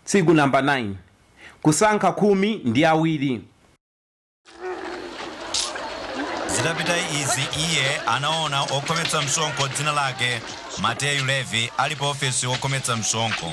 Tsiku namba 9 Kusankha khumi ndi awiri. Zitapita izi iye anaona okhometsa msonkho dzina lake Mateyu Levi ali pa ofesi wokhometsa msonkho.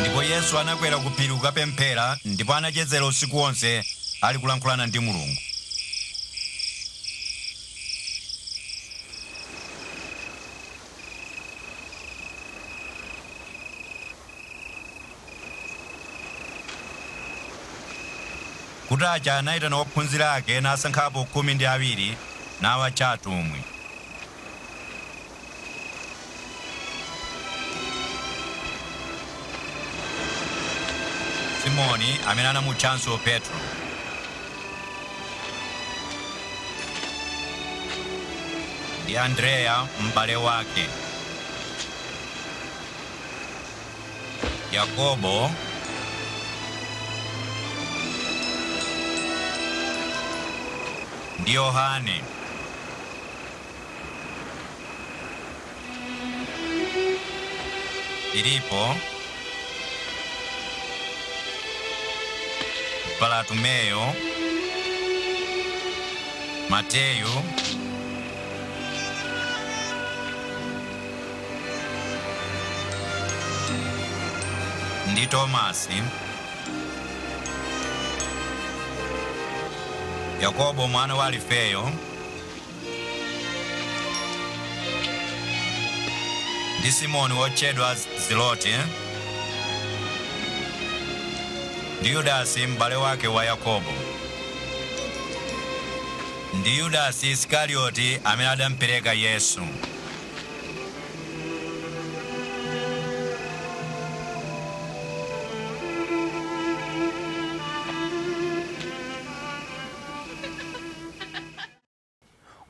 Ndipo Yesu anakwera ku phiri kukapemphera, ndipo anachezera usiku wonse ali kulankhulana ndi Mulungu. Kutacha, anaitana ophunzira ake nasankhapo khumi ndi awiri, nawatcha atumwi. Simoni, amene anamutchanso Petro. ndi Andreya m'bale wake, Yakobo, ndi Yohane, Filipo, Bartolomeyo, Mateyu, ndi Tomasi, Yakobo mwana wa Alifeyo, ndi Simoni wotchedwa Zelote, ndi Yudasi m'bale wake wa Yakobo, ndi Yudasi Isikarioti amene adampereka Yesu.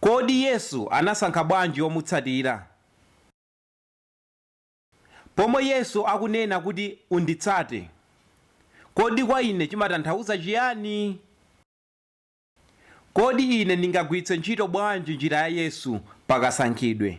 Kodi Yesu anasankha bwanji omutsatira? Pomwe Yesu akunena kuti unditsate, kodi kwa ine chimatanthauza chiyani? Kodi ine ndingagwiritse ntchito bwanji njira ya Yesu pa kasankhidwe?